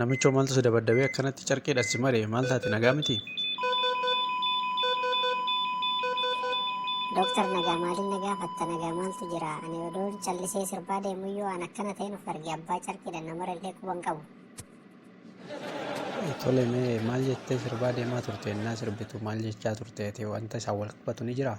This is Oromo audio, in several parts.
Namichoo maaltu si dabaddabee akkanatti carqiidhaan si maree maal taate nagaa miti? Dooktar nagaa maaliin na gaafatta nagaa maaltu jira ani odoo callisee sirbaa deemuyyuu aan akkana ta'een of arge abbaa carqiidhaan na marellee quban qabu. Tole mee maal jettee sirbaa deemaa turte innaa sirbitu maal jechaa turte ati wanta isaan wal qabatu ni jiraa?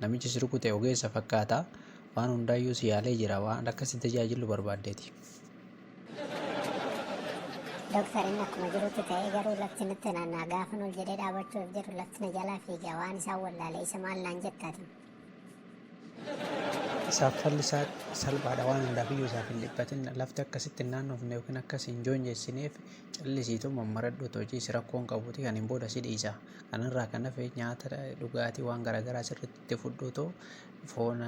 Namichi si rukute ogeessa fakkaata. Waan hundaayyuu si yaalee jira. Waan akka si tajaajillu barbaaddeeti. Doktar inni akkuma jirutti ta'ee garuu lafti natti naanna'a. Gaafan ol jedhee dhaabachuuf jedhu lafti na jalaa fiiga. Waan isaan wallaale isa maal naan jetta ati? Isaaf falli isaa salphaadha. Waan hundaafiyyuu isaaf hin dhiphatin. Lafti akka sitti hin naannofne yookiin akka si hin joonjessineef callisiitu mammaradhuutu hojii si rakkoon qabuti. Kaniin booda si dhiisa. Kanarraa kan hafe nyaata dhugaatii waan garaagaraa sirriitti itti fudhuutu foon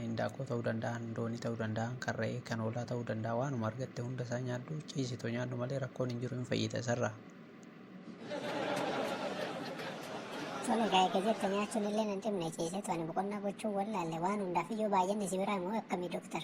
hindaaqqoo ta'uu danda'a, loonii ta'uu danda'a, kan re'ee, kan hoolaa ta'uu danda'a waanuma argatte hunda isaa nyaadhu ciisitu nyaadhu malee rakkoon hin jiru hin fayyita isarraa. Sun egaa eega jette nyaachuun illee nan dhibne ciisetu ani boqonnaa gochuu wallaalle waan hundaaf iyyuu baay'inni si biraa immoo akkamii doktar?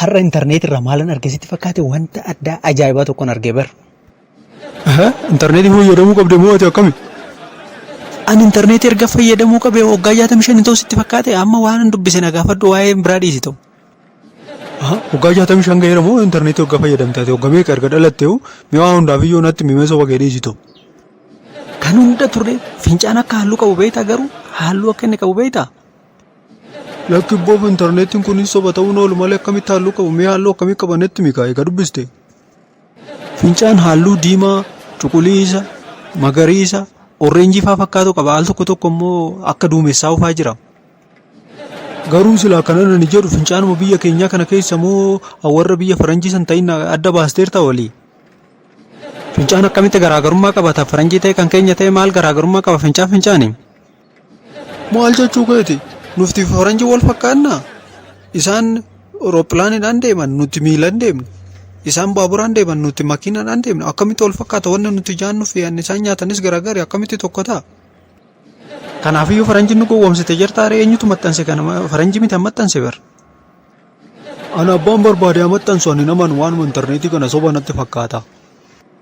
Har'a intarneetii irraa maalan arge sitti fakkaate wanta addaa ajaa'ibaa tokkon arge bar. Intarneetii fayyadamuu qabde moo ati akkami? An intarneetii erga fayyadamuu qabe waggaa 65 hin ta'u sitti fakkaate amma waan dubbise na gaafadhu waa'ee biraa dhiisi ta'u. Waggaa 65 ga'eera moo intarneetii waggaa fayyadamte ati waggaa meeqa erga dhalatte hoo mi'aa hundaaf iyyoo natti mimee soba kee dhiisi ta'u. Kan hunda turre fincaan akka halluu qabu beektaa garuu halluu akka inni qabu beektaa? Lakki Boob intarneetiin kun soba ta'uun oolu malee akkamitti halluu qabu mee halluu akkamii qabanetti mikaa egaa dubbiste. Fincaan halluu diimaa, cuquliisa, magariisa, orreenjii faa fakkaatu qaba al tokko tokko immoo akka duumessaa ufaa jira. Garuu silaa kana nani jedhu fincaanuma biyya keenyaa kana keessa moo warra biyya faranjii san ta'in adda baasteerta walii. Fincaan akkamitti garaagarummaa qabata faranjii ta'e kan keenya ta'e maal garaagarummaa qaba fincaan fincaani. Maal jechuu keeti? Nufti faranji wal fakkaannaa? Isaan rooppilaanidhaan deeman nuti miilan deemna. Isaan baaburaan deeman nuti makiinadhaan deemna. Akkamitti wal fakkaata wanni nuti jaannu fi anni isaan nyaatanis garaagari akkamitti tokko ta'a? Kanaafiyyuu faranji nu gowwoomsite jirta haree eenyutu maxxanse kana faranji miti maxxanse bar. Ana abbaan barbaade maxxansu ani naman waanuma intarneetii kana soba natti fakkaata.